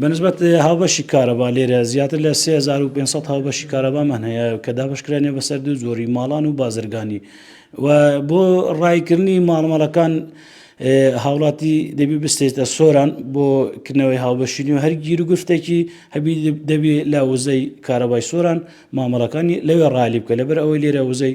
بە نسبەت هاوبەشی کارەبا لێرە زیاتر لە 3500 هاوبەشی کارەبامان هەیە کە دابشکرانێ بەسەر دوو زۆری ماڵان و بازرگانی و بۆ ڕایکردنی ماڵمەڵەکان هاوڵاتی دەبی بستێتە سۆران بۆ کردنەوەی هاوبەشینی و هەرگیر و گفتێکی هەبی دەبی لە وزەی کارەبای سۆران مامەڵەکانی لەوێ ڕالی بکە لەبەر ئەوەی لێرە وزەی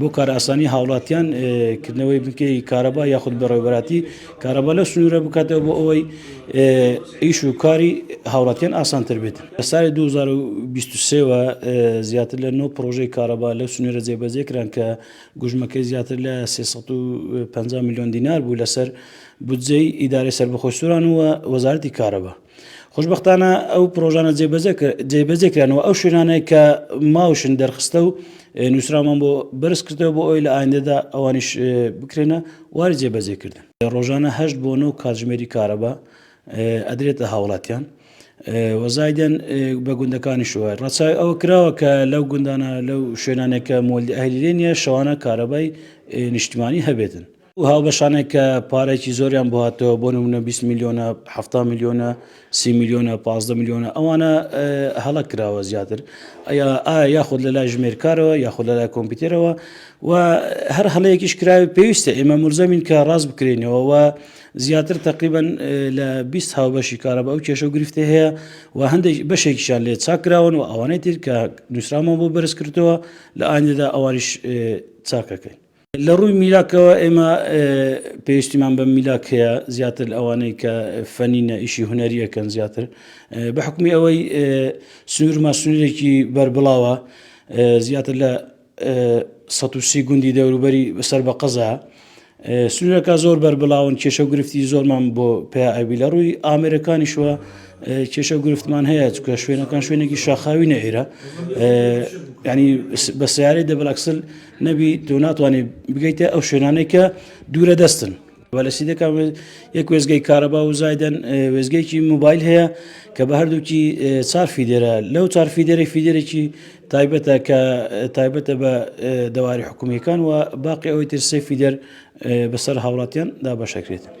بۆ کارئاسانی هاوڵاتیان کردنەوەی بنکەی کارەبا یاخود بەڕێوبەراتی کارەبا لە سنوورە بکاتەوە بۆ ئەوەی ئیش و کاری هاوڵاتیان ئاسانتر بێت لە ساڵی 2023ەوە زیاتر لە 9 پرۆژەی کارەبا لە سنوورە جێبەجێ کران کە گوژمەکەی زیاتر لە 350 میلیۆن دینار بوو لەسەر بودجەی ئیدارەی سەربەخۆی سوران و وەزارەتی کارەبا خۆشببختانە ئەو پرۆژانە جێبەجێ کرانەوە ئەو شوێنانەیە کە ماوشن دەرخستە و نووسرامان بۆ بەرز کردەوە بۆ ئەوی لە ئایندەدا ئەوانیش بکرێنە واری جێبەجێکردن ڕۆژانە هەشت بۆ نۆ کاتژمێری کارەبا ئەدرێتە هاوڵاتیان وەزایدەن بە گوندەکانی شووە ڕچای ئەوە کراوە کە لەو گوندانە لەو شوێنانێکە مۆلی ئەهلیلێنە شەوانە کارەبای نیشتمانی هەبێتن ئەو هاوبەشانێک کە پارێکی زۆریان بۆ هاتەوە بۆ نمونە 20 میلیۆنە ه میلیۆنە سی میلیۆنە پ میلیۆنە ئەوانە هەڵە کراوە زیاتر ئەیا ئایا یاخود لە لای ژمێرکارەوە یاخود لە لای کۆمپیوتەرەوە و هەر هەڵەیەکیش کراوی پێویستە ئێمە مرزەمین کە ڕاست بکرێنەوە و زیاتر تقریبن لە 20 هاوبەشی کارە بە ئەو کێشە و گرفتی هەیە و هەندێک بەشێکیشان لێ چاکراون و ئەوانەی تر کە نووسرامان بۆ بەرز کردەوە لە ئایندا ئەوانیش چاکەکەین لە ڕووی میلاکەوە ئێمە پێویستیمان بە میلاک هەیە زیاتر لە ئەوانەی کە فەنینە ئیشی هوەریەکەن زیاتر بە حکومی ئەوەی سنوورما سنوورێکی بەربڵاوە زیاتر لە 130 گوندی دەوروبەری بەسەر بە قەزا سنوورەکە زۆر بەربڵاون کێشە و گرفتی زۆرمان بۆ پێ ئەوی لە ڕووی ئامێرەکانی شووە کێشە و گرفتمان هەیە چکە شوێنەکان شوێنێکی شاخاوی نەئێرە ینی بە سیارەی دەبلاکسل نەبی تۆ ناتوانێت بگەیتە ئەو شوێنانەی کە دوورە دەستن بەلەسی دەکە یەک وێزگەی کارەبا و زایدەن وێزگەیکی موبایل هەیە کە بە هەردووکی چار فیدێرە لەو چار فیدێری فیدێرێکی تایبەتە کە تایبەتە بە دەواری حکومیەکان و باقی ئەوەی ترسێ فیدەر بەسەر هاوڵاتیان دا بەشەکرێت